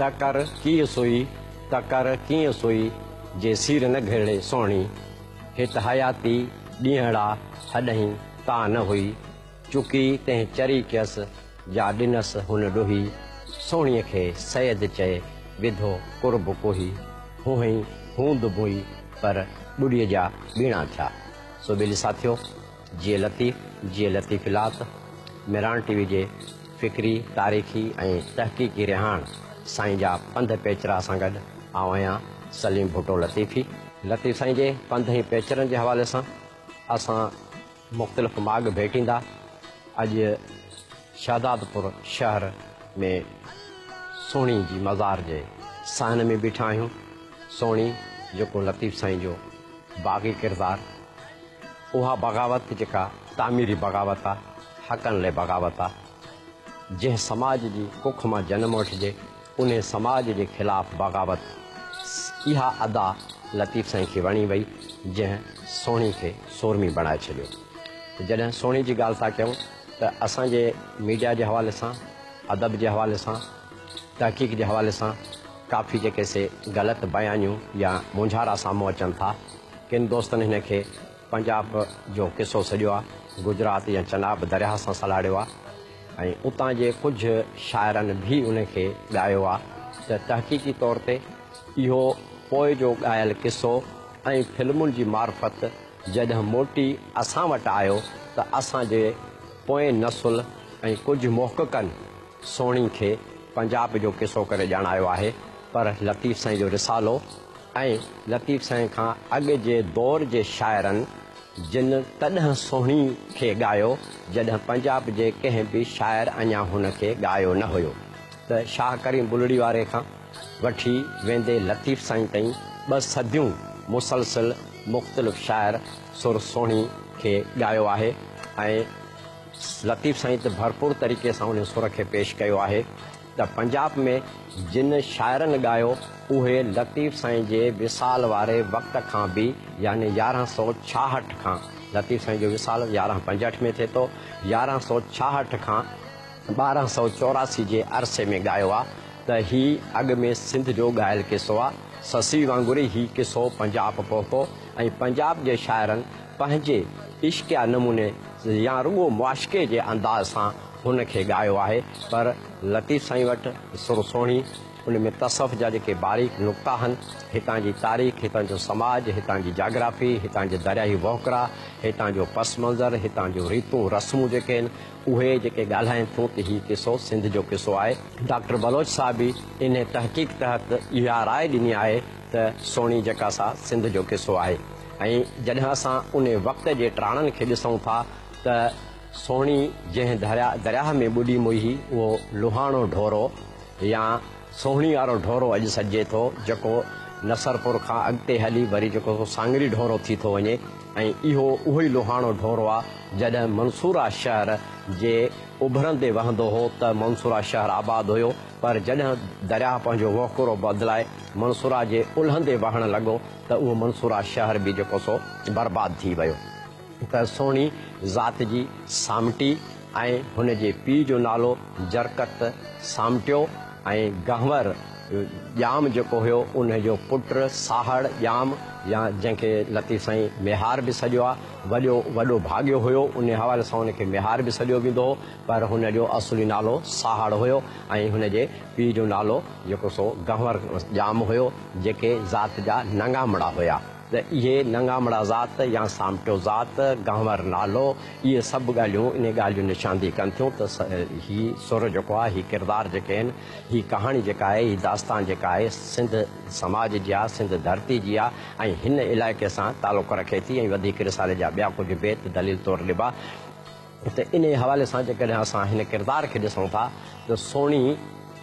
ته ڪر ڪيئن سوئي ته ڪر ڪيئن سوئي جي سير نه گهرڙي سهڻي هت حياتي ڏينهڙا هڏهين تان نه هئي چڪي تنهن چري ڪيس، جا ڏنس هن ڏوهي. سهڻيء کي سيد چئي، وڌو قرب ڪوهي. هونهئين هوند موئي، پر ٻڏيء جا ٻيڻا ٿيا. سو ٻيلي ساٿيو، جيئي لطيف، جيئي لطيف لات. مهراڻ ٽي وي جي فڪري، تاريخي ۽ تحقيقي رهاڻ سائين جا پنڌ پيچرا سان گڏ آئون آهيان سليم ڀٽو لطيفي. لطيف سائين جي پنڌ ۽ پيچرن جي حوالي سان اسان. مختلف ماڳ ڀيٽيندا اڄ شهدادپور شهر ۾ سهڻي جي مزار جي صحن ۾ بيٺا آهيون سهڻي جيڪو لطيف سائين جو باغي ڪردار اها بغاوت جيڪا تعميري بغاوت آ حقن لئه بغاوت آ جنهن سماج جي ڪک مان جنم وٺجي انهي سماج جي خلاف بغاوت اها ادا لطيف سائين کي وڻي وئي جنهن سهڻي کي سورمي بڻائي ڇڏيو. جڏهن سهڻي جي ڳالهه ٿا ڪيون ته اسان جي ميڊيا جي حوالي سان، ادب جي حوالي سان، تحقيق جي حوالي سان ڪافي جيڪي سي غلط بيانيون يا مونجهارا سامهون اچن ٿا. ڪن دوستن هن کي پنجاب جو قصو سڏيو آ، گجرات يا چناب درياهه سان سلهاڙيو آ ۽ اتان جي ڪجهه شاعرن به ان کي ڳايو آ ته تحقيقي طور تي اهو پوء جو ڳايل قصو ۽ فلمن جي معرفت جڏهن موٽي اسان وٽ آيو ته اسان جي پوئين نسل ۽ ڪجهه محققن سهڻي کي پنجاب جو قصو ڪري ڄاڻايو آهي پر لطيف سائين جو رسالو ۽ لطيف سائين کان اڳ جي دور جي شاعرن جن تڏهن سهڻي کي ڳايو جڏهن پنجاب جي ڪنهن به شاعر اڃا هن کي ڳايو نه هيو ته شاهه ڪريم بلڙي واري کان وٺي ويندي لطيف سائين تائين ٻه صديون مسلسل مختلف شاعر سر سهڻي کي ڳايو آهي ۽ لطيف سائين ته ڀرپور طريقي سان ان سر کي پيش ڪيو آهي ته پنجاب ۾ جن شاعرن ڳايو اهي لطيف سائين جي وصال واري وقت کان به يعني يارهن سؤ ڇاهٺ کان لطيف سائين جو وصال يارهن پنجهٺ ۾ ٿئي ٿو يارهن سؤ ڇاهٺ کان ٻارهن سؤ چوراسي جي عرصي ۾ ڳايو آ ته هي اڳ ۾ سنڌ جو ڳايل قصو آ سسئي وانگر ئي هي قصو پنجاب پهتو ۽ پنجاب جي شاعرن پنهنجي عشقيه نموني يا رڳو معاشقي جي انداز سان هن کي ڳايو آهي پر لطيف سائين وٽ سر سهڻي ان ۾ تصوف جا جيڪي باريڪ نقطا آهن، هتان جي تاريخ، هتان جو سماج، هتان جي جاگرافي، هتان جي درياهي وهڪرا، هتان جو پس منظر، هتان جون ريتون رسمون جيڪي آهن اهي جيڪي ڳالهائين ٿيون ته هي قصو سنڌ جو قصو آهي. ڊاڪٽر بلوچ صاحب به انهي تحقيق تحت اها راء ڏني آهي ته سهڻي جڪا سا سنڌ جو قصو آهي ۽ جڏهن اسان ان وقت جي ٽراڻن کي ڏسون ٿا ته سهڻي جنهن درياهه ۾ ٻڏي موئي اهو لوهاڻو ڍورو يا سهڻي وارو ڍورو اڄ سڏجي ٿو جڪو نصرپور کان اڳتي هلي وري جڪو سو سانگري ڍورو ٿي ٿو وڃي ۽ اهو اهوئي لوهاڻو ڍورو آ جڏهن منصوره شهر جي اڀرندي وهندو هو ته منصوره شهر آباد هيو پر جڏهن درياهه پنهنجو وهڪرو بدلائي منصوره جي الهندي وهڻ لڳو ته اهو منصوره شهر به جيڪو سو برباد ٿي ويو ته سهڻي ذات جي سامٽي ۽ هن جي پيء جو نالو جرڪت سامٽيو ۽ گهنور ڄام جيڪو هيو ان جو پٽ ساهڙ ڄام يا جنهن کي لطيف سائين ميهار به سڏيو آهي وڏيو وڏو ڀاڳيو هيو انهي حوالي سان ان کي ميهار به سڏيو ويندو هو. پر هن جو اصلي نالو ساهڙ هيو ۽ هن جي پيء جو نالو جيڪو سو گهنور ڄام هيو، جيڪي ذات جا نڱامڙا هيا ته اهي نڱامڙا ذات يا سامٽو ذات، گهنور نالو، اهي سڀ ڳالهيون انهي ڳالهه جي نشاندهي ڪن ٿيون ته هي سر جيڪو آهي، هي ڪردار جيڪي آهن، هي ڪهاڻي جيڪا آهي، هي داستان جيڪا آهي، سنڌ سماج جي آهي، سنڌ ڌرتي جي آهي ۽ هن علائقي سان تعلق رکي ٿي ۽ وڌيڪ رسالي جا ٻيا ڪجهه بيت دليل طور ڏبا. هتي انهيء حوالي سان جيڪڏهن اسان هن ڪردار کي ڏسون ٿا ته سهڻي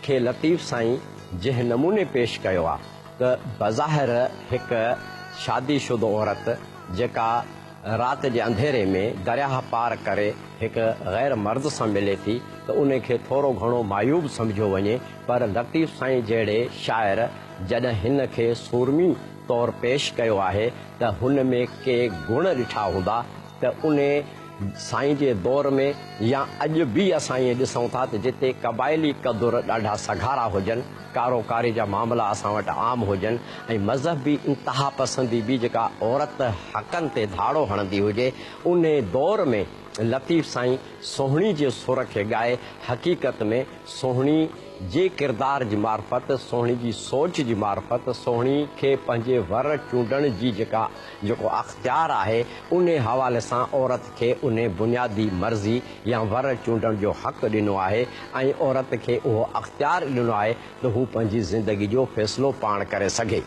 کي لطيف سائين جنهن نموني پيش ڪيو آهي ته بظاهر هڪ شادي شده عورت جيڪا رات جي انڌيري ۾ درياهه پار ڪري هڪ غير مرد سان ملي ٿي ته ان کي ٿورو گهڻو معيوب سمجهيو وڃي پر لطيف سائين جهڙي شاعر جڏهن هن کي سورمي طور پيش ڪيو آهي ته هن ۾ ڪي گڻ ڏٺا هوندا ته انهي سائين جي دور ۾ يا اڄ به اسان ائين ڏسون ٿا ته جتي قبائلي قدر ڏاڍا سگهارا هجن، ڪارو ڪاري جا معاملا اسان وٽ عام هجن ۽ مذهبي انتها پسندي به جيڪا عورت حقن تي ڌاڙو هڻندي هجي، انهي دور ۾ لطيف سائين سهڻي جي سر کي ڳائي حقيقت ۾ سهڻي جي ڪردار جي معرفت، سهڻي جي سوچ جي معرفت، سهڻي کي پنهنجي ور چونڊڻ جي جيڪا. جيڪو اختيار آهي، انهي حوالي سان عورت کي انهي بنيادي مرضي يا ور چونڊڻ جو حق ڏنو آهي ۽ عورت کي اهو اختيار ڏنو آهي ته هو پنهنجي زندگي جو فيصلو پاڻ ڪري سگهي.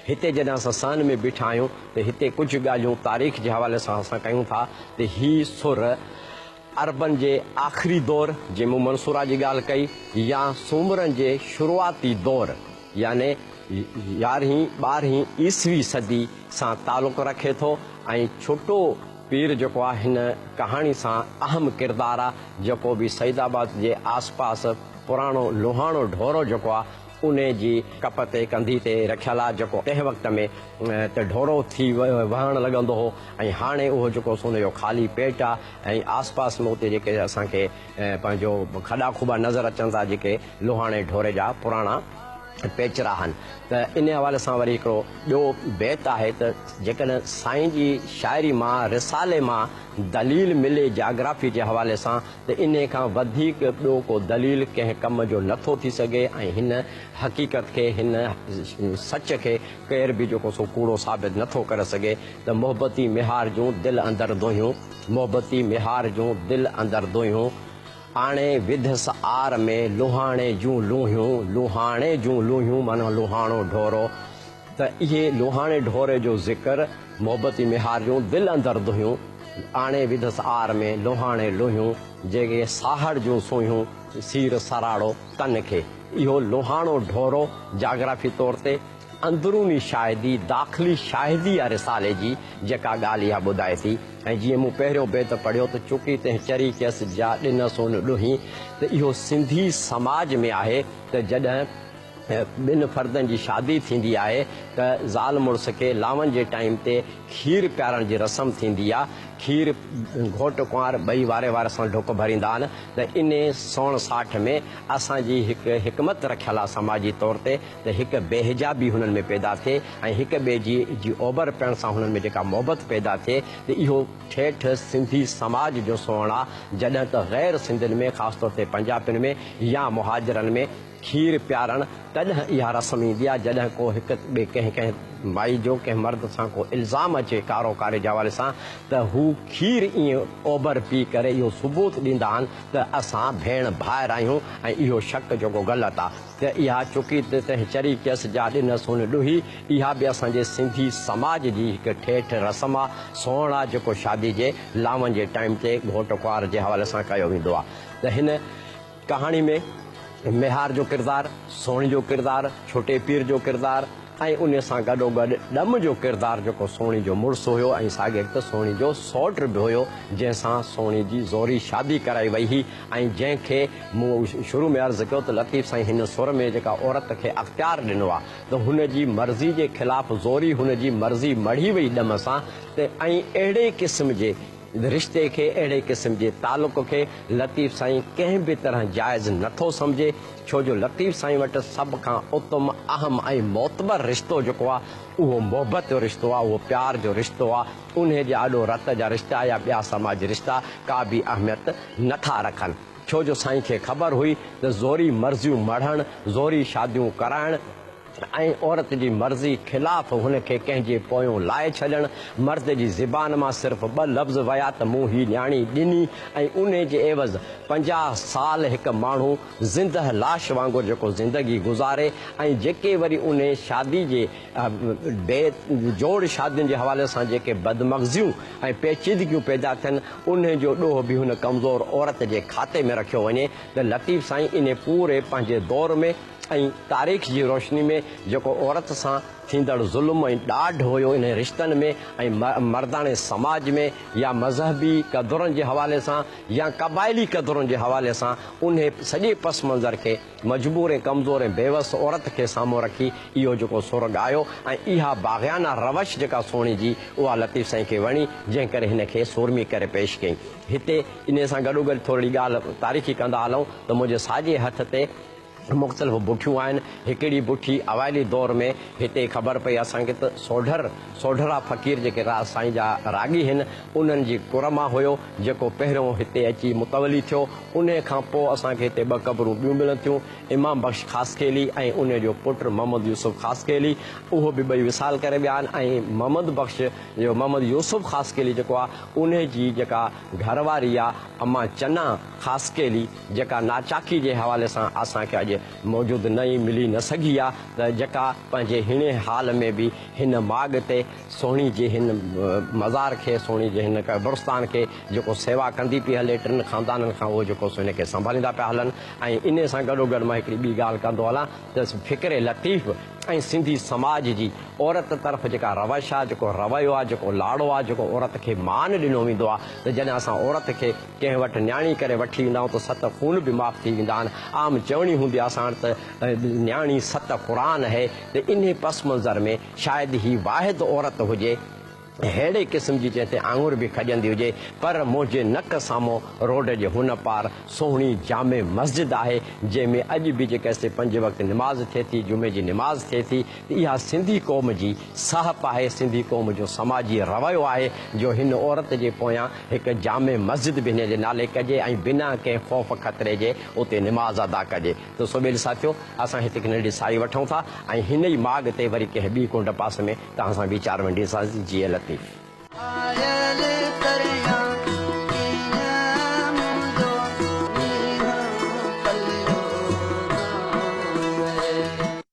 هتي جڏهن اسان سان ۾ بيٺا آهيون ته هتي ڪجهه ڳالهيون تاريخ جي حوالي سان اسان ڪيون ٿا ته هي سر عربن جي آخري دور جي مون منصوره جي ڳالهه ڪئي يا سومرن جي شروعاتي دور يعني يارهين ٻارهين عيسوي صدي سان تعلق رکي ٿو ۽ ڇٽو پير جيڪو آ هن ڪهاڻي سان اهم ڪردار آ جيڪو به سيد آباد جي آس پاس پراڻو لوهاڻو ڍورو جيڪو آ انهيء جي ڪپ تي ڪنڌي تي رکيل آ، جيڪو ڪنهن وقت ۾ ته ڍورو ٿي وهڻ لڳندو هو ۽ هاڻي اهو جيڪو سون اهو خالي پيٽ آ ۽ آس پاس ۾ اتي جيڪي اسان کي پنهنجو کڏا کوٻا نظر اچن ٿا جيڪي لوهاڻي ڍوري جا پراڻا پيچرا آهن ته انهيء حوالي سان وري هڪڙو ٻيو بيت آهي ته جيڪڏهن سائين جي شاعري مان رسالي مان دليل ملي جاگرافي جي حوالي سان ته انهي کان وڌيڪ ٻيو ڪو دليل ڪنهن ڪم جو نه ٿو ٿي سگهي ۽ هن حقيقت کي، هن سچ کي ڪير به جيڪو سو ڪوڙو ثابت نه ٿو ڪري سگهي ته محبتي ميهار جون دل اندر دونهيون، محبتي ميهار جون دل اندر دونهيون، آڻي وڌس آر ۾ لونهاڻي جون لونهيون، لونهاڻي جون لونهيون معنيٰ لونهاڻو ڍورو. ته اهي لوهاڻي ڍوري جو ذڪر، محبتي ميهار جون دل اندر دونهيون، آڻي وڌس آر ۾ لوهاڻي لونهيون، جيڪي ساهڙ جون سونهيون، سير سراڙو تن کي. اهو لوهاڻو ڍورو جاگرافي طور تي اندروني شاهدي، داخلي شاهدي آ رسالي جي، جيڪا ڳالهه اها ٻڌائي ٿي ۽ جيئن مون پهريون بيت پڙهيو ته چڪي تنهن چري ڪيس جا ڏنس ان ڏونهين ته اهو سنڌي سماج ۾ آهي ته جڏهن ٻن فردن جي شادي ٿيندي آهي ته زال مڙس کي لانون جي ٽائيم تي کير پيارڻ جي رسم ٿيندي آ کير گهوٽ ڪنوار ٻئي واري واري سان ڍڪ ڀريندا آهن ته انهي سوڻ ساٺ ۾ اسان جي هڪ حڪمت رکيل آ سماجي طور تي ته هڪ بي حجابي هنن ۾ پيدا ٿئي ۽ هڪ ٻئي جي جي اوڀر پيڻ سان هنن ۾ جيڪا محبت پيدا ٿئي ته اهو ٺيٺ سنڌي سماج جو سوڻ آ جڏهن ته غير سنڌين ۾ خاص طور تي پنجابين ۾ يا مهاجرن ۾ کير پيارڻ، تڏهن اها رسم ايندي آهي جڏهن ڪو هڪ ٻئي ڪنهن ڪنهن مائي جو ڪنهن مرد سان ڪو الزام اچي ڪارو ڪاري جي حوالي سان ته هو کير ائين اوڀر پي ڪري اهو ثبوت ڏيندا آهن ته اسان ڀيڻ ڀائر آهيون ۽ اهو شڪ جيڪو غلط آهي ته اها چڪي ته تنهن چري ڪيس جا ڏنس هن ڏوهي اها به اسان جي سنڌي سماج جي هڪ ٺيٺ رسم آهي سوهڻ آهي جيڪو شادي جي لاون جي ٽائيم تي گهوٽ ڪنوار جي حوالي سان ڪيو ويندو آهي ته هن ڪهاڻي ۾ ميهار جو ڪردار، سوڻي جو ڪردار، ڇوٽي پير جو ڪردار ۽ انهي سان گڏوگڏ ڏم جو ڪردار جيڪو سوڻي جو مڙس هيو ۽ ساڳيت ته سوڻي جو سئوٽ به هيو جنهن سان سوڻي جي زوري شادي ڪرائي وئي هئي ۽ جنهن کي مون شروع ۾ عرض ڪيو ته لطيف سائين هن سر ۾ جيڪا عورت کي اختيار ڏنو آ ته هن جي مرضي جي خلاف زوري هن جي مرضي مڙهي وئي ڏم سان ته ۽ اهڙي قسم جي رشتي کي، اهڙي قسم جي تعلق کي لطيف سائين ڪنهن به طرح جائز نه ٿو سمجهي، ڇو جو لطيف سائين وٽ سڀ کان اتم، اهم ۽ معتبر رشتو جيڪو آ، اهو محبت جو رشتو آ، اهو پيار جو رشتو آ، انهي جي آڏو رت جا رشتا يا ٻيا سماجي رشتا ڪا به اهميت نه ٿا رکن، ڇو جو سائين کي خبر هئي ته زوري مرضيون مڙهڻ، زوري شاديون ڪرائڻ، ۽ عورت جي مرضي خلاف هن کي ڪنهن جي پويون لائي ڇڏڻ، مرد جي زبان مان صرف ٻه لفظ ويا ته مون هي نياڻي ڏني ۽ انهي جي عيوض پنجاهه سال هڪ ماڻهو زندهه لاش وانگر جيڪو زندگي گذاري ۽ جيڪي وري انهي شادي جي بي جوڙ شادين جي حوالي سان جيڪي بدمغزيون ۽ پيچيدگيون پيدا ٿين انهي جو ڏوهه به هن ڪمزور عورت جي کاتي ۾ رکيو وڃي ته لطيف سائين انهي پوري پنهنجي دور ۾ ۽ تاريخ جي روشني ۾ جيڪو عورت سان ٿيندڙ ظلم ۽ ڏاڍ هيو انهي رشتن ۾ ۽ مرداڻي سماج ۾ يا مذهبي قدرن جي حوالي سان يا قبائلي قدرن جي حوالي سان انهي سڄي پس منظر کي مجبور ۽ ڪمزور ۽ بيوس عورت کي سامهون رکي اهو جيڪو سر ڳايو ۽ اها باغيانه روش جيڪا سهڻي جي اها لطيف سائين کي وڻي جنهن ڪري هن کي سورمي ڪري پيش ڪئي هتي انهي سان گڏوگڏ ٿورڙي ڳالهه تاريخي ڪندا هلون ته منهنجي ساڄي هٿ تي مختلف بٺيون آهن. هڪڙي بٺي اوائلي دور ۾ هتي خبر پئي اسان کي ته سوڍر، سوڍڙا فقير جيڪي راء سائين جا راڳي هن، انهن جي ڪر مان هيو، جيڪو پهريون هتي اچي متولي ٿيو. انهي کان پوء اسان کي هتي ٻه قبرون ٻيون ملن ٿيون، امام بخش خاصخيلي ۽ انهي جو پٽ محمد يوسف خاصخيلي. اهي به ٻئي وصال ڪري ويا آهن ۽ محمد بخش جو محمد يوسف خاصخيلي جيڪو آهي، انهي جي جيڪا گهر واري آهي اما چنا خاصخيلي، جيڪا ناچاڪي جي حوالي سان اسان کي اڄ موجود نه ئي ملي نه سگهي آ ته جيڪا پنهنجي هيڻي حال ۾ به هن ماڳ تي سهڻي جي هن مزار کي سهڻي جي هن قبرستان کي جيڪو سيوا ڪندي پي هلي ٽن خاندانن کان اهو جيڪو سو هن کي سنڀاليندا پيا هلن ۽ انهي سان گڏو گڏ مان هڪڙي ٻي ڳالهه ڪندو هلان ته فڪر لطيف ۽ سنڌي سماج جي عورت طرف جيڪا روش آ جيڪو رويو آ جيڪو لاڙو آ جيڪو عورت کي مان ڏنو ويندو آ ته جڏهن اسان عورت کي ڪنهن وٽ نياڻي ڪري وٺي ايندا آهيون ته ست خون به معاف ٿي ويندا آهن. عام چوڻي هوندي آهي اسان وٽ ته نياڻي ست قرآن هي ته انهي پس منظر ۾ شايد هي واحد عورت هجي ههڙي قسم جي جنهن تي آڱر به کڄندي هجي پر منهنجي نڪ سامهون روڊ جي هن پار سهڻي جامع مسجد آهي جنهن ۾ اڄ به جيڪا سي پنج وقت نماز ٿئي ٿي جمعي جي نماز ٿئي ٿي اها سنڌي قوم جي سهپ آهي، سنڌي قوم جو سماجي رويو آهي جو هن عورت جي پويان هڪ جامع مسجد به هن جي نالي ڪجي ۽ بنا ڪنهن خوف خطري جي اتي نماز ادا ڪجي ته سوڀيل ساٿيو اسان هتي هڪ ننڍي ساهي وٺون ٿا ۽ هن ئي ماڳ تي وري ڪنهن ٻي ڪنڊ پاسي ۾ توهان سان ويچار ونڊيسانسين جيئي لطيف. آيل پريان ڪيئن منهنجو مينهن پليو نه ويئي.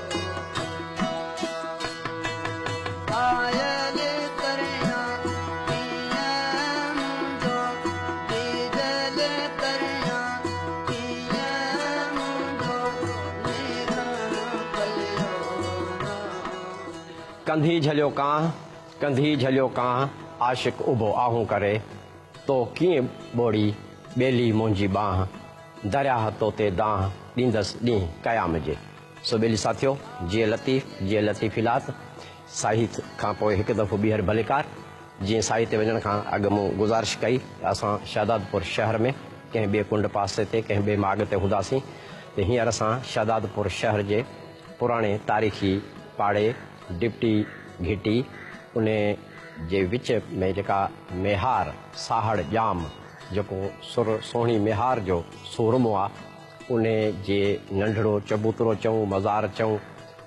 ڪنڌي جهليو ڪانه ڪنڌي جهليو ڪانه عاشق اڀو آهون ڪري تو ڪيئن ٻوڙي ٻيلي منهنجي ٻانهه درياهه توتي دانهه ڏيندس ڏينهن قيام جي. سو ٻيلي ساٿيو، جيئي لطيف، جيئي لطيف الات، ساهت کان پوء هڪ دفعو ٻيهر ڀليڪار، جيئي ساهي تي وڃڻ کان اڳ مون گذارش ڪئي ته اسان شهدادپور شهر ۾ ڪنهن ٻئي ڪنڊ پاسي تي ڪنهن ٻئي ماڳ تي هونداسين ته هينئر اسان شهدادپور شهر جي پراڻي تاريخي پاڙي ڊپٽي گهٽي انهي جي وچ ۾ جيڪا ميهار ساهڙ ڄام جيڪو سر سهڻي ميهار جو سورمو آ. انهي جي ننڍڙو چبوترو چئون مزار چئون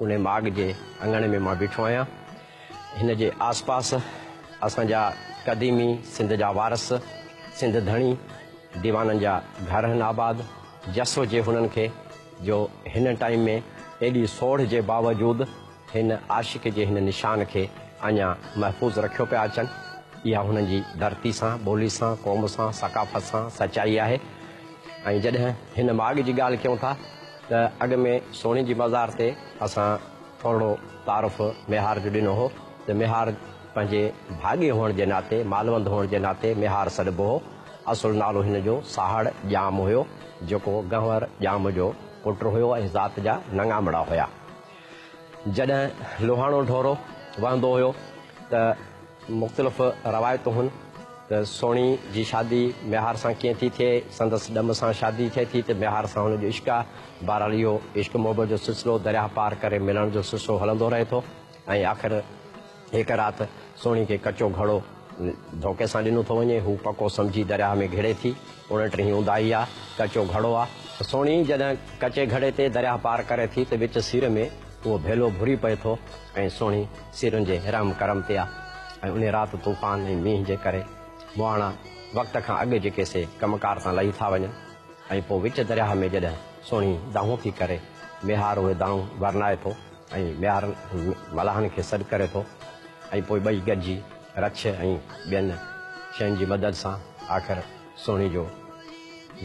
انهي ماڳ جي اڱڻ ۾ مان بيٺو آهيان هن جي آس پاس اسان جا قديمي سنڌ جا وارث سنڌ ڌڻي ديوانن جا گهر هن آباد جس هجي هنن کي جو هن ٽائيم ۾ ايڏي سوڙهه جي باوجود هن عاشق جي هن نشان کي اڃا محفوظ رکيو پيا اچن. اها هنن جي ڌرتي سان، ٻولي سان، قوم سان، ثقافت سان سچائي آهي ۽ جڏهن هن ماڳ جي ڳالهه ڪيون ٿا ته اڳ ۾ سهڻي جي مزار تي اسان ٿورڙو تعارف ميهار جو ڏنو هو ته ميهار پنهنجي ڀاڳي هئڻ جي ناتي، مالوند هئڻ جي ناتي ميهار سڏبو هو. اصل نالو هن جو ساهڙ ڄام هيو، جيڪو گهنور ڄام جو پٽ هيو ۽ ذات جا نڱامڙا هيا. جڏهن لوهاڻو ڍورو وهندو هيو ته مختلف روايتون هن ته سهڻي جي شادي ميهار سان ڪيئن ٿي ٿئي، سندس ڏم سان شادي ٿئي ٿي ته ميهار سان هن جو عشق آ، بهرحال اهو عشق محبت جو سلسلو درياهه پار ڪري ملڻ جو سلسلو هلندو رهي ٿو ۽ آخر هڪ رات سهڻي کي ڪچو گهڙو ڌوڪي سان ڏنو ٿو وڃي. هو پڪو سمجهي درياهه ۾ گهڙي ٿي. اڻٽرهين اونداهي آ. ڪچو گهڙو آ. سهڻي جڏهن ڪچي گهڙي تي درياهه پار ڪري ٿي ته وچ سير ۾ اهو ڀيلو ڀري پئي ٿو ۽ سهڻي سيرن جي رحم ڪرم تي آ ۽ انهي رات طوفان ۽ مينهن جي ڪري مهاڻا وقت کان اڳ جي ڪيسي ڪم ڪار تان لهي ٿا وڃن ۽ پوء وچ درياهه ۾ جڏهن سهڻي دانهون ٿي ڪري ميهار اهي دانهون ورنائي ٿو ۽ ميار ملاحن کي سڏ ڪري ٿو ۽ پوء ٻئي گڏجي رڇ ۽ ٻين شين جي مدد سان آخر سهڻي جو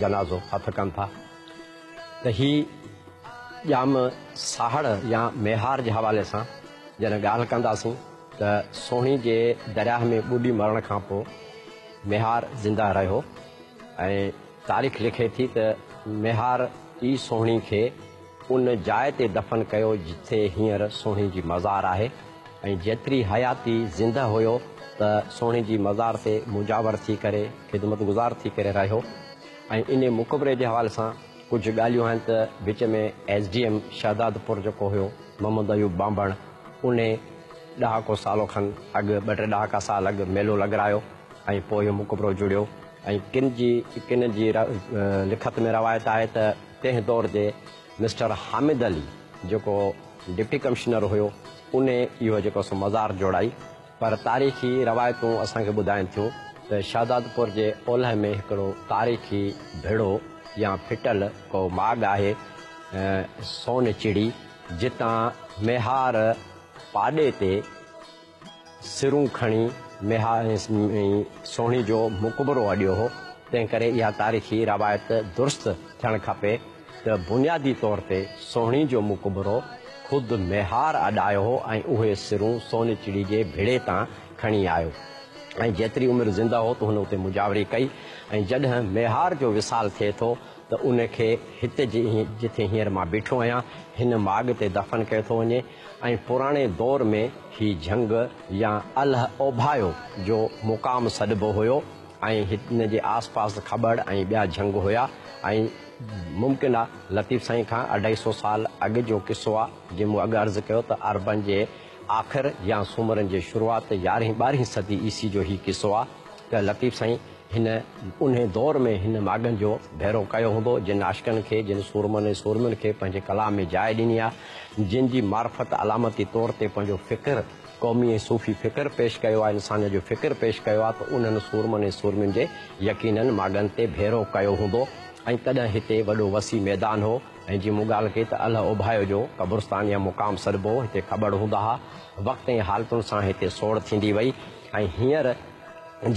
جنازو هٿ ڪن ٿا ته هي ڄام ساهڙ يا ميهار جي حوالي سان جڏهن ڳالهه ڪنداسين ته سهڻي جي درياهه ۾ ٻڏي مرڻ کان پوء ميهار زنده رهيو ۽ تاريخ لکي ٿي ته ميهار ئي سهڻي کي ان جاء تي دفن ڪيو جتي هينئر سهڻي جي مزار آهي ۽ جيتري حياتي زندهه هيو ته سهڻي جي مزار تي مجاور ٿي ڪري خدمت گذار ٿي ڪري رهيو ۽ انهي مقبري جي حوالي سان ڪجهه ڳالهيون آهن ته وچ ۾ ايس ڊي ايم شهدادپور جيڪو هيو محمد ايوب ٻانڀڻ انهي ڏهاڪو سالو کن اڳ ٻه ٽي ڏهاڪا سال اڳ ميلو لڳرايو ۽ پوء اهو مقبرو جڙيو ۽ ڪن جي ڪن جي لکت ۾ روايت آهي ته تنهن دور تي مسٽر حامد علي جيڪو ڊپٽي ڪمشنر هيو ان اهو جيڪو سو مزار جوڙائي پر تاريخي روايتون اسان کي ٻڌائين ٿيون ته شهدادپور جي اولهه ۾ هڪڙو تاريخي ڀڙو يا ڦٽل ڪو ماڳ آهي سون چڙي جتان ميهار پاڏي تي سرون کڻي ميها ۽ سهڻي جو مقبرو اڏيو هو، تنهن ڪري اها تاريخي روايت درست ٿيڻ کپي ته بنيادي طور تي سهڻي جو مقبرو خود ميهار اڏايو هو ۽ اهي سرون سونچڙي جي ڀڙي تان کڻي آيو ۽ جيتري عمر زنده هو تون هن اتي مجاوري ڪئي ۽ جڏهن ميهار جو وصال ٿئي ٿو ته ان کي هت جي جتي هينئر مان بيٺو آهيان هن ماڳ تي دفن ڪيو ٿو وڃي ۽ پراڻي دور ۾ هي جهنگ يا الهه اوڀايو جو مقام سڏبو هيو ۽ ان جي آس پاس کٻڙ ۽ ٻيا جهنگ هيا ۽ ممڪن آهي لطيف سائين کان اڍائي سو سال اڳ جو قصو آهي جي مون اڳ عرض ڪيو ته عربن جي آخر يا سومرن جي شروعات يارهين ٻارهين صدي عيسي جو هي قصو آ ته لطيف سائين هن انهي دور ۾ هن ماڳن جو ڀيرو ڪيو هوندو جن عاشقن کي جن سورمن ۽ سورمين کي پنهنجي ڪلام ۾ جاء ڏني آ جن جي معرفت علامتي طور تي پنهنجو فڪر قومي ۽ صوفي فڪر پيش ڪيو آ انسانيت جو فڪر پيش ڪيو آ ته انهن سورمن ۽ سورمين جي يقينن ماڳن تي ڀيرو ڪيو هوندو ۽ تڏهن هتي وڏو وسيع ميدان هو. ۽ جي مون ڳالهه ڪئي ته الهه اوڀايو جو قبرستان يا مقام سڏبو هو، هتي کٻڙ هوندا ها. وقت ۽ حالتن سان هتي سوڙ ٿيندي وئي ۽ هينئر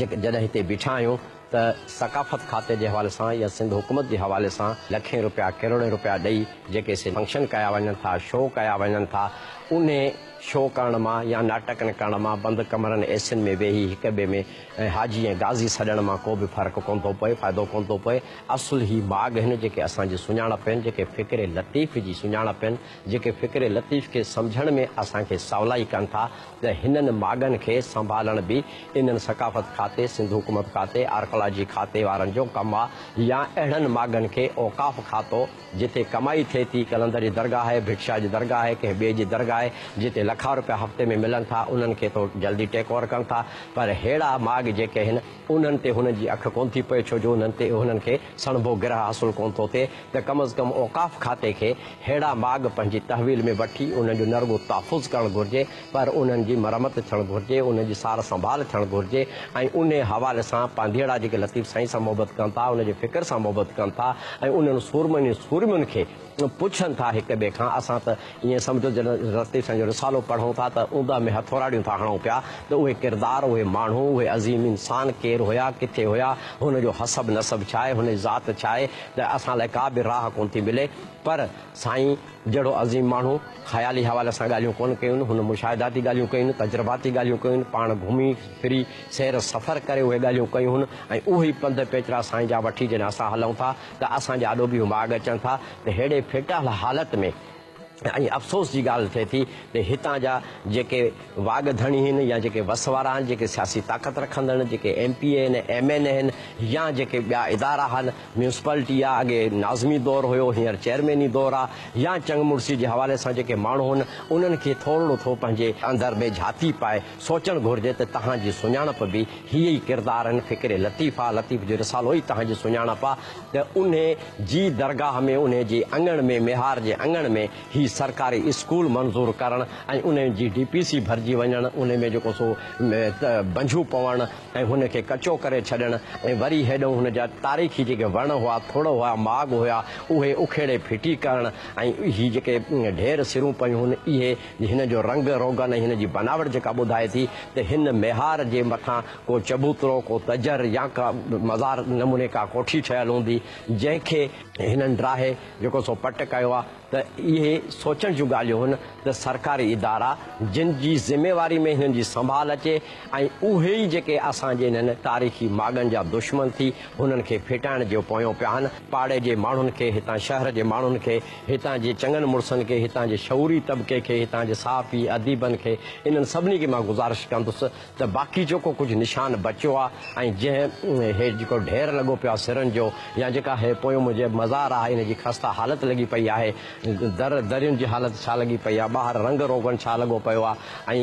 جڏهن هتي بيٺا آهيون ته ثقافت کاتي جي حوالي سان يا سنڌ حڪومت جي حوالي سان لکين روپيا ڪروڙين روپيا ڏئي جيڪي سي فنڪشن ڪيا وڃن ٿا، شو ڪيا وڃن ٿا، انهي شو ڪرڻ مان يا ناٽڪن ڪرڻ مان بند ڪمرن اي سين ۾ ويهي هڪ ٻئي ۾ ۽ حاجي ۽ غازي سڏڻ مان ڪو به فرق ڪونه ٿو پئي، فائدو ڪونه ٿو پئي، اصل هي ماڳ هن جيڪي اسان جي سڃاڻپ آهن، جيڪي فڪر لطيف جي سڃاڻپ آهن، جيڪي فڪر لطيف کي سمجهڻ ۾ اسان کي سولائي ڪن ٿا ته هنن ماڳن کي سنڀالڻ به انهن ثقافت کاتي، سنڌ حڪومت کاتي، آرڪالاجي کاتي وارن جو ڪم آهي يا اهڙن ماڳن کي اوقاف کاتو، جتي ڪمائي ٿئي ٿي، قلندر جي درگاهه آهي، ڀٽشاهه جي درگاهه آهي، ڪنهن ٻئي جي درگاهه آهي، جتي لکان رپيا هفتي ۾ ملن ٿا، انهن کي تو جلدي ٽيڪ اوور ڪن ٿا، پر ههڙا ماڳ جيڪي آهن، انهن تي هنن جي اک ڪونه ٿي پئي، ڇو جو انهن تي انهن کي سڻڀو گرهه حاصل ڪونه ٿو ٿئي ته ڪم از ڪم اوقاف کاتي کي ههڙا ماڳ پنهنجي تحويل ۾ وٺي انهن جو نه رڳو تحفظ ڪرڻ گهرجي، پر انهن جي مرمت ٿيڻ گهرجي، انهن جي سار سنڀال ٿيڻ گهرجي ۽ انهي حوالي سان پانڌيئڙا جيڪي لطيف سائين سان محبت ڪن ٿا، ان جي فڪر سان محبت ڪن ٿا ۽ انهن سورمن ۽ سورمين کي پڇن ٿا هڪ ٻئي کان، اسان ته ائين سمجهو جڏهن لطيف سائين جو رسالو پڙهون ٿا ته اوندهه ۾ هٿوراڙيون ٿا هڻون پيا ته اهي ڪردار، اهي ماڻهو، اهي عظيم انسان ڪير هيا، ڪٿي هيا، هن جو حسب نسب ڇا آهي، هن جي ذات ڇا آهي ته اسان لاء ڪا به راهه ڪونه ٿي ملي پر سائين. جهڙو عظيم ماڻهو خيالي حوالي سان ڳالهيون ڪونه ڪيون، هن مشاهداتي ڳالهيون ڪيون، تجرباتي ڳالهيون ڪيون، پاڻ گهمي ڦري سير سفر ڪري اهي ڳالهيون ڪيون هن ۽ اهي ئي پنڌ پيچرا سائين جا وٺي جڏهن اسان هلون ٿا ته اسان جي آڏو به اهي ماڳ اچن ٿا ته ههڙي ڦيٽهل حالت ۾ ۽ افسوس جي ڳالهه ٿئي ٿي ته هتان جا جيڪي واڳ ڌڻي هين يا جيڪي وس وارا هين جيڪي سياسي طاقت رکندڙ هين جيڪي ايم پي اي هين ايم اين اي هين يا جيڪي ٻيا ادارا هين ميونسپالٽي آ، اڳي ناظمي دور هيو، هينئر چيئرميني دور آ، يا چڱ مڙسي جي حوالي سان جيڪي ماڻهو هن، انهن کي ٿورڙو ٿو پنهنجي اندر ۾ جهاتي پائي سوچڻ گهرجي ته تهان جي سڃاڻپ به هي ئي ڪردار آهن، فڪري لطيف آ، لطيف جو رسالو ئي تهان جي سڃاڻپ آ ته انهي جي درگاهه ۾ انهي جي اڱڻ ۾ ميهار جي اڱڻ ۾ هي سرڪاري اسڪول منظور ڪرڻ ۽ انهي جي ڊي پي سي ڀرجي وڃڻ انهي ۾ جيڪو سو بنجهون پوڻ، ۽ هن کي ڪچو ڪري ڇڏڻ ۽ وري هيڏئون هن جا تاريخي جيڪي وڻ هئا، ٿڙ هئا، ماڳ هيا، اهي اکيڙي ڦٽي ڪرڻ ۽ هي جيڪي ڍير سرون پيون هن اهي هن جو رنگ روغن ۽ هن جي بناوٽ جيڪا ٻڌائي ٿي ته هن ميهار جي مٿان ڪو چبوترو، ڪو تجر يا ڪا مزار نموني ڪا ڪوٺي ٺهيل هوندي جنهن کي هنن ڊاهي جيڪو سو پٽ ڪيو آهي. ته اهي سوچڻ جون ڳالهيون هن ته سرڪاري ادارا جن جي ذميواري ۾ هنن جي سنڀال اچي ۽ اهي ئي جيڪي اسان جي انهن تاريخي ماڳن جا دشمن ٿي هنن کي ڦيٽائڻ جي پويون پيا آهن پاڙي جي ماڻهن کي هتان شهر جي ماڻهن کي هتان جي چڱن مڙسن کي هتان جي شعوري طبقي کي هتان جي صحافي اديبن کي انهن سڀني کي مان گذارش ڪندس ته باقي جيڪو ڪجهه نشان بچيو آ ۽ جنهن هي جيڪو ڍير لڳو پيو آ سرن جو يا جيڪا هي پويون منهنجي مزار آ ان جي خسته حالت لڳي پئي آهي در درين جي حالت ڇا لڳي پئي آ ٻاهر رنگ روغن ڇا لڳو پيو آ ۽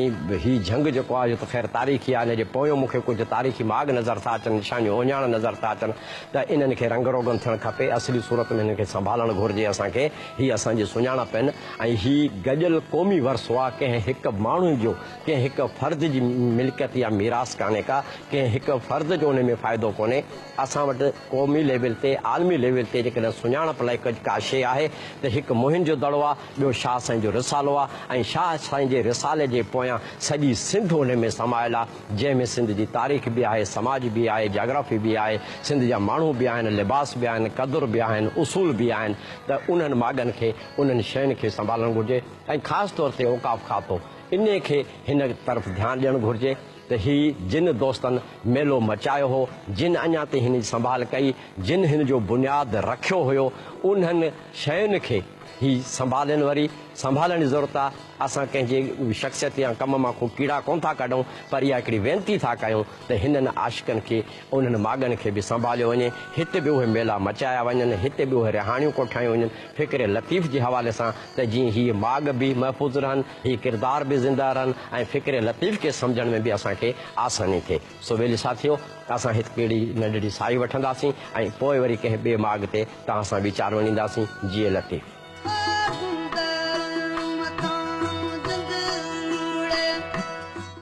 هي جهنگ جيڪو آ اهو ته خير تاريخي آ ان جي پويون مون کي ڪجهه تاريخي ماڳ نظر ٿا اچن نشانيون اهڃاڻ نظر ٿا اچن ته انهن کي رنگ روغن ٿيڻ کپي اصلي صورت ۾ هنن کي سنڀالڻ گهرجي اسان کي هي اسان جي سڃاڻپ آهن ۽ هي گڏيل قومي ورثو آ ڪنهن هڪ ماڻهو جو ڪنهن هڪ فرد جي ملڪيت يا ميراث ڪانهي ڪا، ڪنهن هڪ فرد جو ان ۾ فائدو ڪونهي. اسان وٽ قومي ليول تي، عالمي ليول تي جيڪڏهن سڃاڻپ لاء ڪجهه ڪا شيء آهي ته هڪ موهن جو دڙو آهي، ٻيو شاهه سائين جو رسالو آهي ۽ شاهه سائين جي رسالي جي پويان سڄي سنڌ ان ۾ سمايل آهي، جنهن ۾ سنڌ جي تاريخ به آهي، سماج به آهي، جاگرافي به آهي، سنڌ جا ماڻهو به آهن، لباس به آهن، قدر به آهن، اصول به آهن ته انهن ماڳن کي، انهن شين کي سنڀالڻ گهرجي ۽ خاص طور تي اوقاف کاتو. انهيء کي هن طرف ڌيان ڏيڻ گهرجي ته هي جن دوستن ميلو مچايو هو، جن اڃا تائين هن جي سنڀال ڪئي، جن هن جو بنياد رکيو هيو، انهن شين کي هي سنڀالين وري سنڀالڻ جي ضرورت آ، اسان ڪنهن جي شخصيت يا ڪم مان ڪو ڪيڙا ڪونه ٿا ڪڍون پر اها هڪڙي وينتي ٿا ڪيون ته هنن عاشقن کي انهن ماڳن کي به سنڀاليو وڃي، هت به اهي ميلا مچايا وڃن، هت به اهي رهاڻيون ڪوٺايون وڃن، فڪر لطيف جي حوالي سان ته جيئن هي ماڳ به محفوظ رهن، هي ڪردار به زنده رهن ۽ فڪر لطيف کي سمجهڻ ۾ به اسان کي آساني ٿئي. سو ويلي ساٿيو، اسان هت ڪهڙي ننڍڙي ساهي وٺنداسين ۽ پوء وري ڪنهن ٻئي ماڳ تي توهان سان ويچار وڃينداسين. جيئي لطيف!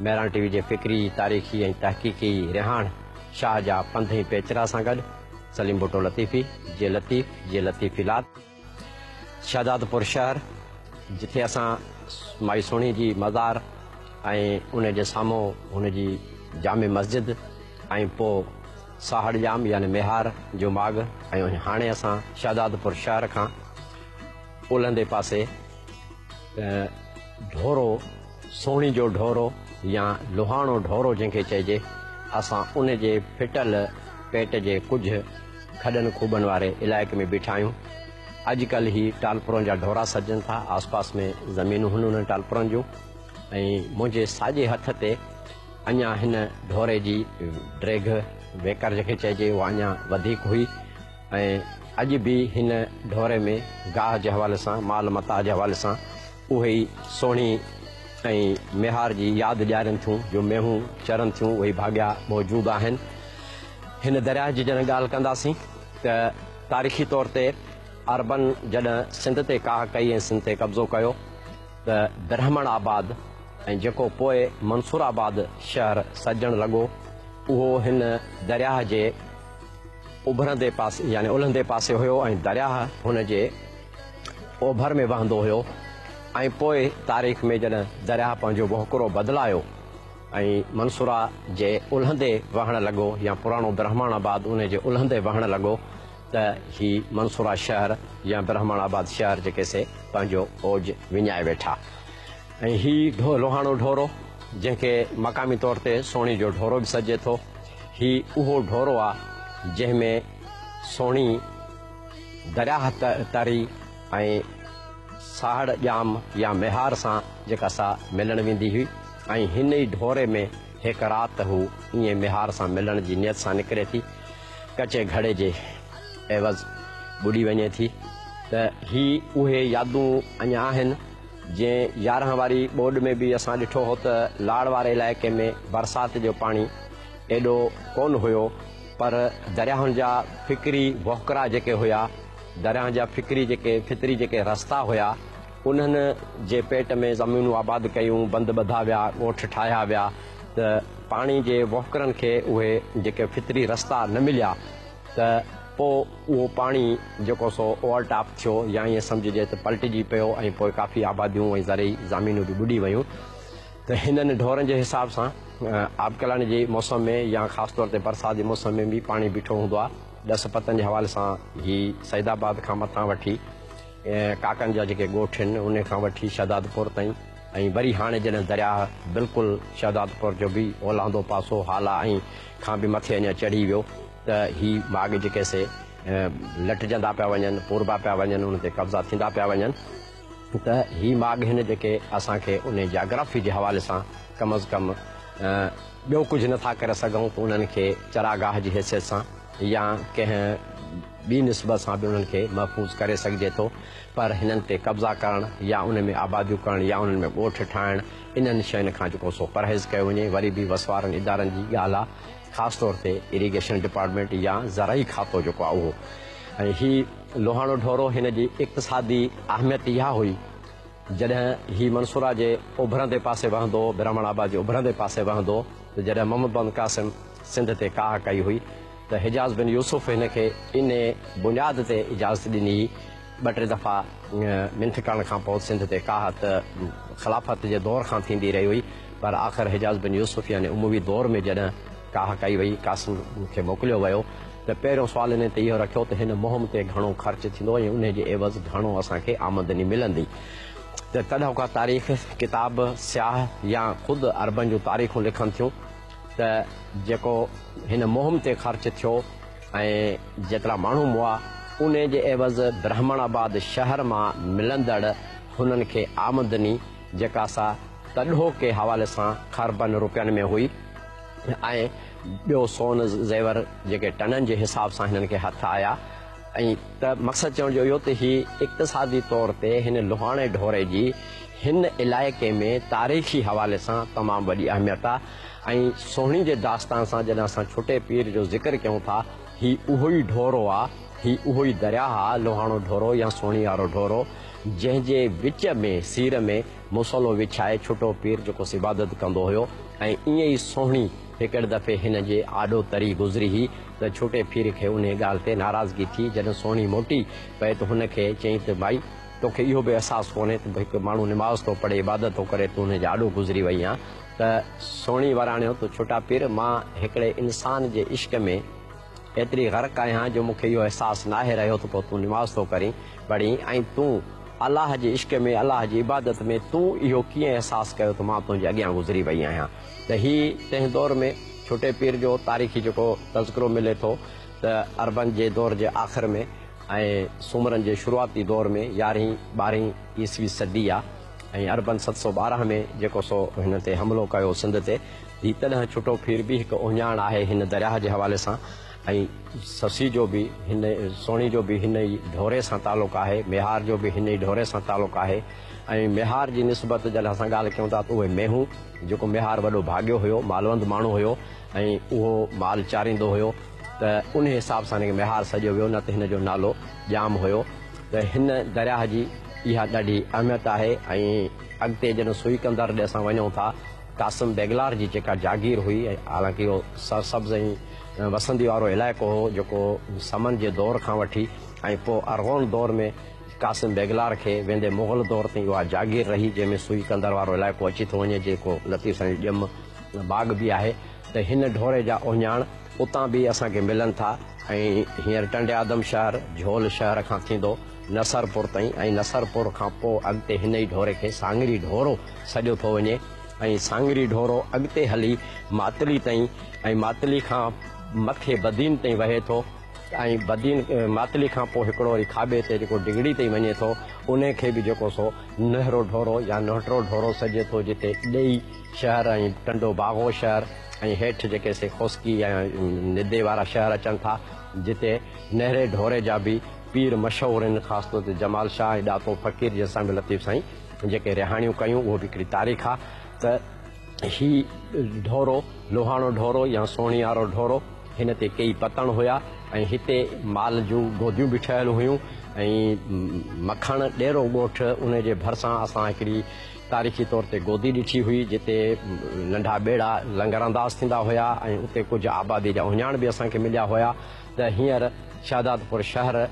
ميران ٽي وي جي فڪري، تاريخي ۽ تحقيقي رهاڻ شاهه جا پنڌ ۽ پيچرا سان گڏ سليم ڀٽو لطيفي جي لطيف جي لطيفيلات شهدادپور شهر جتي اسان مائي سهڻي جي مزار ۽ ان جي سامهون هن جي جامع مسجد ۽ پوء ساهڙ ڄام يعني ميهار جو ماڳ ۽ هاڻي اسان شهدادپور شهر کان اولهندي پاسي ڍورو سوڻي جو ڍورو يا لوهاڻو ڍورو جنهن کي چئجي، اسان ان جي ڦٽل پيٽ جي ڪجهه کڏن کوٻن واري علائقي ۾ بيٺا آهيون. اڄ ڪلهه هي ٽالپرن جا ڍورا سڏجن ٿا. آسپاس ۾ زمينون هن انهن ٽالپرن جون ۽ منهنجي ساڄي هٿ تي اڃا هن ڍوري جي ڊريگهه، ويڪر جنهن کي چئجي، اها اڃا وڌيڪ هئي ۽ اڄ به هن ڍوري ۾ گاهه جي حوالي سان، مال متاع جي حوالي سان، اهي ئي سهڻي ۽ ميهار جي ياد ڏيارين ٿيون، جو مينهون چرن ٿيون، اهي ڀاڳيا موجود آهن. هن درياهه جي جڏهن ڳالهه ڪنداسين ته تاريخي طور تي عربن جڏهن سنڌ تي ڪاهه ڪئي ۽ سنڌ تي قبضو ڪيو ته برهمڻ آباد ۽ جيڪو پوء منصور آباد شهر سڏجڻ لڳو اهو هن درياهه جي اڀرندي پاسي يعني الهندي پاسي هيو ۽ درياهه هن جي اوڀر ۾ وهندو هيو ۽ پوء تاريخ ۾ جڏهن درياهه پنهنجو وهڪرو بدلايو ۽ منصوره جي الهندي وهڻ لڳو يا پراڻو برهماڻ آباد ان جي الهندي وهڻ لڳو ته هي منصوره شهر يا برهماڻ آباد شهر جيڪي سي پنهنجو اوج وڃائي ويٺا ۽ هي لوهاڻو ڍورو جنهن کي مقامي طور تي سوڻي جو ڍورو به سڏجي ٿو هي اهو ڍورو آ جنهن ۾ سوڻي درياهه تري ۽ ساهڙ ڄام يا ميهار سان جيڪا سا ملڻ ويندي هئي ۽ هن ئي ڍوري ۾ هڪ رات هو ائين ميهار سان ملڻ جي نيت سان نڪري ٿي ڪچي گهڙي جي عيوض ٻڏي وڃي ٿي ته هي اهي يادون اڃا آهن جنهن يارهن واري ٻوڏ ۾ به اسان ڏٺو هو ته لاڙ واري علائقي ۾ برسات جو پاڻي ايڏو ڪونه هيو پر درياهن جا فڪري وهڪرا جيڪي هيا، درياهن جا فڪري جيڪي فطري جيڪي رستا هيا، انهن جي پيٽ ۾ زمينون آباد ڪيون، بند ٻڌا ويا، ڳوٺ ٺاهيا ويا ته پاڻي جي وهڪرن کي اهي جيڪي فطري رستا نه مليا ته پوء اهو پاڻي جيڪو سو اوور ٽاپ ٿيو يا ائين سمجهجي ته پلٽجي پيو ۽ پوء ڪافي آباديون ۽ زرعي زامينون به ٻڏي ويون. ته هنن ڍورن جي حساب سان آبڪلڻ جي موسم ۾ يا خاص طور تي برسات جي موسم ۾ به پاڻي بيٺو هوندو آهي. ڏس پتن جي حوالي سان هي سيدآباد کان مٿان وٺي ڪاڪن جا جيڪي ڳوٺ هن انهي کان وٺي شهدادپور تائين ۽ وري هاڻي جڏهن درياهه بلڪل شهدادپور جو به اولاندو پاسو هالا ۽ کان به مٿي اڃا چڙهي ويو ته هي ماڳ جيڪي سي لٽجندا پيا وڃن پوربا پيا وڃن انهن تي قبضا ٿيندا پيا وڃن. ته هي ماڳ هن جيڪي اسان کي انهي جاگرافي جي حوالي سان ڪم از ڪم ٻيو ڪجهه نه ٿا ڪري سگهون ته انهن کي چراگاهه جي حيثيت سان يا ڪنهن ٻي نسبت سان به انهن کي محفوظ ڪري سگهجي ٿو پر هنن تي قبضا ڪرڻ يا انهن ۾ آباديون ڪرڻ يا انهن ۾ ڳوٺ ٺاهڻ انهن شين کان جيڪو سو پرهيز ڪيو وڃي وري به وس وارن ادارن جي ڳالهه آ خاص طور تي اريگيشن ڊپارٽمينٽ يا زرعي کاتو جيڪو آ اهو ۽ هي لوهاڻو ڍورو هن جي اقتصادي اهميت اها هئي جڏهن هي منصوره جي اوڀرندي پاسي وهندو هو برهمڻ آباد جي اوڀرندي پاسي وهندو هو ته جڏهن محمد بن قاسم سنڌ تي ڪاهه ڪئي هئي ته حجاز بن يوسف هن کي انهي بنياد تي اجازت ڏني هئي ٻه ٽي دفعا منٿ ڪرڻ کان پوء سنڌ تي ڪاهه ته خلافت جي دور کان ٿيندي رهي هئي پر آخر حجاز بن يوسف يعني اموي دور ۾ جڏهن ڪاهه ڪئي وئي. قاسم کي موڪليو ويو ته پهريون سوال انهي تي اهو رکيو ته هن مهم تي گهڻو خرچ ٿيندو ۽ انهي جي عيوض گهڻو اسان کي آمدني ملندي ته تڏهن ڪا تاريخ ڪتاب سياح يا خود عربن جون تاريخون لکن ٿيون ته جيڪو هن مهم تي خرچ ٿيو ۽ جيترا ماڻهو مئا انهي جي عيوض برهمڻ آباد شهر مان ملندڙ هنن کي آمدني جيڪا سا تڏهو ڪي حوالي سان خربن روپين ۾ هئي ۽ ٻيو سون زيور جيڪي ٽنن جي حساب سان هنن کي هٿ آيا ۽ ته مقصد چوڻ جو اهو ته هي اقتصادي طور تي هن لوهاڻي ڍوري جي هن علائقي ۾ تاريخي حوالي سان تمام وڏي اهميت آ ۽ سهڻي جي داستان سان جڏهن اسان ڇٽي پير جو ذڪر ڪيون ٿا هي اهو ئي ڍورو آ هي اهو ئي درياهه آ لوهاڻو ڍورو يا سهڻي وارو ڍورو جنهن جي وچ ۾ سير ۾ مصلو وڇائي ڇٽو پير جيڪوس عبادت ڪندو هيو ۽ ائين ئي سهڻي هڪڙي دفعي هن جي آڏو تري گذري هي ته ڇٽي پير کي انهي ڳالهه تي ناراضگي ٿي جڏهن سهڻي موٽي پئي ته هن کي چيائين ته ڀائي تو کي اهو به احساس ڪونهي ته هڪ ماڻهو نماز ٿو پڙهي عبادت ٿو ڪري تون هن جي آڏو گذري وئي آن ته سهڻي وراڻيو ته ڇٽا پير مان هڪڙي انسان جي عشق ۾ ايتري غرق آهيان جو مون کي اهو احساس ناهي رهيو ته پوء تون نماز ٿو ڪرين پڙهين ۽ تون الله جي عشق ۾ الله جي عبادت ۾ تون اهو ڪيئن احساس ڪيو ته مان تنهنجي اڳيان گذري وئي آهيان ته هي تنهن دور ۾ ڇوٽي پير جو تاريخي جيڪو تذڪرو ملي ٿو ته عربن جي دور جي آخر ۾ ۽ سومرن جي شروعاتي دور ۾ يارهين ٻارهين عيسوي صدي آ ۽ عربن ست سؤ ٻارهن ۾ جيڪو سو هن تي حملو ڪيو سنڌ تي هي تڏهن ڇٽو ڦير به هڪ اهڃاڻ آهي هن درياهه جي حوالي سان ۽ سسي جو به هن سوڻي جو به هن ئي ڍوري سان تعلق آهي ميهار جو به هن ئي ڍوري سان تعلق آهي ۽ ميهار جي نسبت جڏهن اسان ڳالهه ڪيون ٿا ته اهي مينهون جيڪو ميهار وڏو ڀاڳيو هيو مالوند ماڻهو هيو ۽ اهو مال چاريندو هيو ته انهي حساب سان هن کي ميهار سڏيو ويو نه ته هن جو نالو ڄام هيو ته هن درياهه جي اها ڏاڍي اهميت آهي ۽ اڳتي جڏهن سوئي ڪندر ڏي اسان وڃون ٿا قاسم بيگلار جي جيڪا جاگير هئي ۽ حالانڪ اهو سرسبز ۽ وسندي وارو علائقو هو جيڪو سمن جي دور کان وٺي ۽ پوء ارغون دور ۾ قاسم بيگلار کي ويندي مغل دور تائين اها جاگير رهي جنهن ۾ سوئي قندر وارو علائقو اچي ٿو وڃي جيڪو لطيف سائين جي ڄم باغ به آهي ته هن ڍوري جا اهڃاڻ اتان به اسان کي ملن ٿا ۽ هينئر ٽنڊي آدم شهر جهول شهر کان ٿيندو نصرپور تائين ۽ نصرپور کان پوء اڳتي هن ئي ڍوري کي سانگري ڍورو سڏيو ٿو وڃي ۽ سانگري ڍورو اڳتي هلي ماتلي تائين ۽ ماتلي کان مٿي بدين تائين وهي ٿو ۽ بدين ماتلي کان پوء هڪڙو وري کاٻي تي جيڪو ڊگهڙي تائين وڃي ٿو ان کي به جيڪو سو نهرو ڍورو يا نهٽرو ڍورو سڏجي ٿو جتي ڏيئي شهر ۽ ٽنڊو باگو شهر ۽ هيٺ جيڪي سي خوسڪي ۽ ندي وارا شهر اچن ٿا جتي نهري ڍوري جا به پير مشهور هن خاص طور تي جمال شاهه ۽ ڏاتو فقير جي سان به لطيف سائين جيڪي رهاڻيون ڪيون اهو به هڪڙي تاريخ آ ته هي ڍورو لوهاڻو ڍورو يا سونهيارو ڍورو هن تي ڪيئي پتڻ هيا ۽ هتي مال جون گوديون به ٺهيل هيون ۽ مکڻ ڏيرو ڳوٺ ان جي ڀرسان اسان هڪڙي تاريخي طور تي گودي ڏٺي هئي جتي ننڍا ٻيڙا لنگر انداز ٿيندا هيا ۽ اتي ڪجهه آبادي جا اهڃاڻ به اسان کي مليا هيا ته هينئر شهدادپور شهر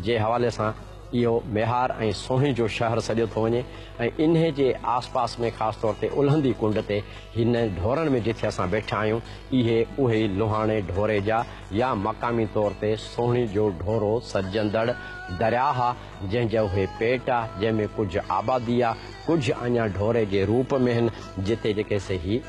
جي حوالي سان اهو ميهار ۽ سونهين جو شهر سڏيو ٿو وڃي ۽ انهي جي آس پاس ۾ خاص طور تي الهندي ڪنڊ تي هن ڍورن ۾ جٿي اسان ويٺا آهيون اهي اهي لوهاڻي ڍوري جا يا مقامي طور تي سونهين جو ڍورو سڏجندڙ درياهه جنهن جا اهي پيٽ آ جنهن ۾ ڪجهه آبادي آ ڪجهه اڃا ڍوري جي روپ ۾ هن جتي جيڪي سي هي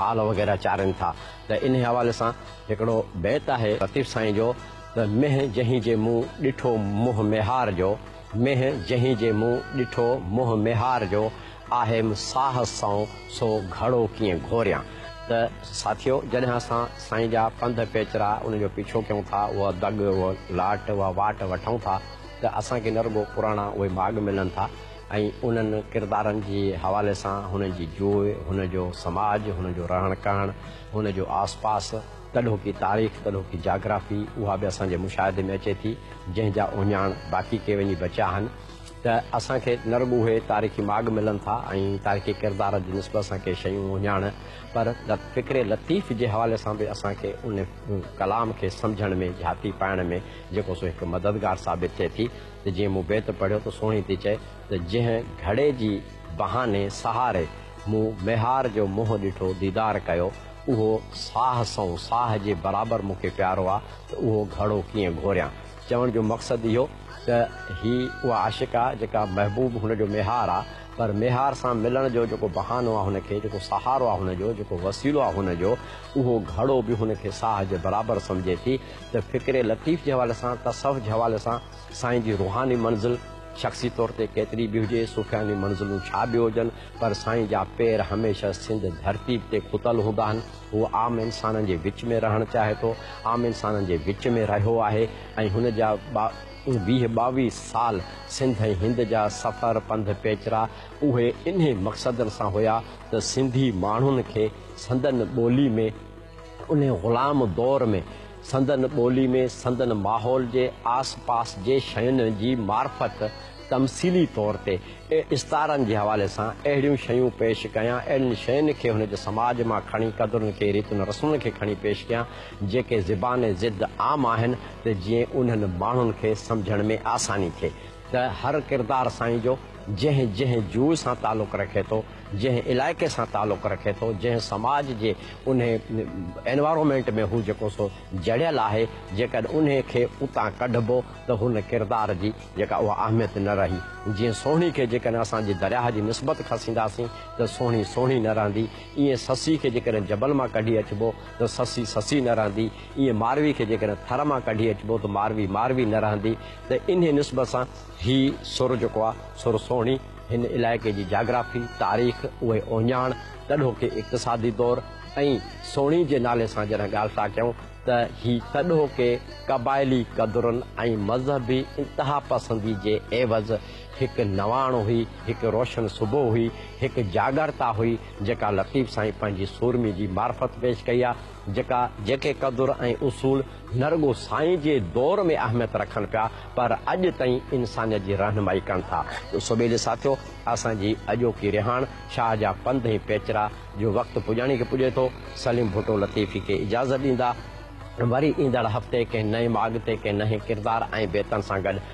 مال وغيره چارين ٿا ته انهي حوالي سان هڪڙو بيت آهي لطيف سائين جو ته مينهن جنهن جي مون ڏٺو منهن ميهار جو مينهن جنهن جي مون ڏٺو منهن ميهار جو آهيم ساهه سئون سو گهڙو ڪيئن گهوريان ته ساٿيو جڏهن اسان سائين جا پنڌ پيچرا ان جو پيڇو ڪيون ٿا اها دڳ اهو لاٽ اها واٽ وٺون ٿا ته اسان کي نه رڳو پراڻا اهي ماڳ ملن ٿا ۽ انهن ڪردارن جي حوالي سان هن جي جوء هن جو سماج هن جو رهڻ ڪهڻ هن جو آس پاس، ڪڏهوڪي تاريخ، ڪڏهوڪي جاگرافي، اها به اسان جي مشاهدي ۾ اچي ٿي، جنهن جا اهڃاڻ باقي ڪي وڃي بچيا آهن ته اسان کي نه رڳو اهي تاريخي ماڳ ملن ٿا ۽ تاريخي ڪردارن جي نسبت سان ڪي شيون اهڃاڻ پر فڪر لطيف جي حوالي سان به اسان کي ان ڪلام کي سمجهڻ ۾ جهاتي پائڻ ۾ جيڪو سو هڪ مددگار ثابت ٿئي ٿي ته جيئن مون بيت پڙهيو ته سهڻي ٿي چئي ته جنهن گهڙي جي بهاني سهاري مون ميهار جو منهن ڏٺو، ديدار ڪيو، اهو ساهه سنئون ساهه جي برابر مون کي پيارو آ ته اهو گهڙو ڪيئن گهوريان. چوڻ جو مقصد اهو ته هي اها عاشق آ جيڪا محبوب هن جو ميهار آ پر ميهار سان ملڻ جو جيڪو بهانو آ هن کي جيڪو سهارو آ هن جو جيڪو وسيلو آ هن جو اهو گهڙو به هن کي ساهه جي برابر سمجهي ٿي ته فڪر لطيف جي حوالي سان تصوف جي حوالي سان سائين جي روحاني منزل شخصي طور تي ڪيتري به هجي، صوفياني منزلون ڇا به هجن، پر سائين جا پير هميشه سنڌ ڌرتي تي کتل هوندا آهن. هو عام انسانن جي وچ ۾ رهڻ چاهي ٿو، عام انسانن جي وچ ۾ رهيو آهي ۽ هن جا ويهه ٻاويهه سال سنڌ ۽ هند جا سفر، پنڌ پيچرا اهي انهي مقصد سان هيا ته سنڌي ماڻهن کي سندن ٻولي ۾ انهي غلام دور ۾، سندن ٻولي ۾ سندن ماحول جي آس پاس جي شين جي معرفت تمثيلي طور تي استعارن جي حوالي سان اهڙيون شيون پيش ڪيان، اهڙين شين کي هن جي سماج مان کڻي قدرن کي ريتن رسمن کي کڻي پيش ڪيان جيڪي زبان ضد عام آهن ته جيئن انهن ماڻهن کي سمجهڻ ۾ آساني ٿئي. ته هر ڪردار سائين جو جنهن جنهن جوء سان تعلق رکي ٿو، جنهن علائقي سان تعلق رکي ٿو، جنهن سماج جي انهي Environment ۾ هو جيڪو سو جڙيل آهي، جيڪڏهن انهي کي اتان ڪڍبو ته هن ڪردار جي جيڪا اها اهميت نه رهي. جيئن سهڻي کي جيڪڏهن اسان جي درياهه جي نسبت کسينداسين ته سهڻي سهڻي نه رهندي، ايئن سسي کي جيڪڏهن جبل مان ڪڍي اچبو ته سسي سسي نه رهندي، ايئن ماروي کي جيڪڏهن ٿر مان ڪڍي اچبو ته ماروي ماروي نه رهندي، ته انهي نسبت سان هي سر جيڪو آ سر سهڻي هن علائقي جي جاگرافي، تاريخ، اهي اوهڃاڻ، تڏهوڪي اقتصادي دور ۽ سهڻي جي نالي سان جڏهن ڳالهه ٿا ڪيون ته هي تڏهوڪي قبائلي قدرن ۽ مذهبي انتها پسندي جي عيوض هڪ نواڻ هئي، هڪ روشن صبح هئي، هڪ جاڳرتا هئي جيڪا لطيف سائين پنهنجي سورمي جي معرفت پيش ڪئي آ جيڪا جيڪي قدر ۽ اصول نه رڳو سائين جي دور ۾ اهميت رکن پيا پر اڄ تائين انسانيت جي رهنمائي ڪن ٿا. سوڀيلي ساٿيو اسان جي اڄوڪي رهاڻ شاهه جا پنڌ ۽ پيچرا جو وقت پڄاڻي کي پڄي ٿو. سليم ڀٽو لطيفي کي اجازت ڏيندا. وري ايندڙ هفتي ڪنهن نئين ماڳ تي ڪنهن نئين ڪردار ۽ بيتن سان گڏ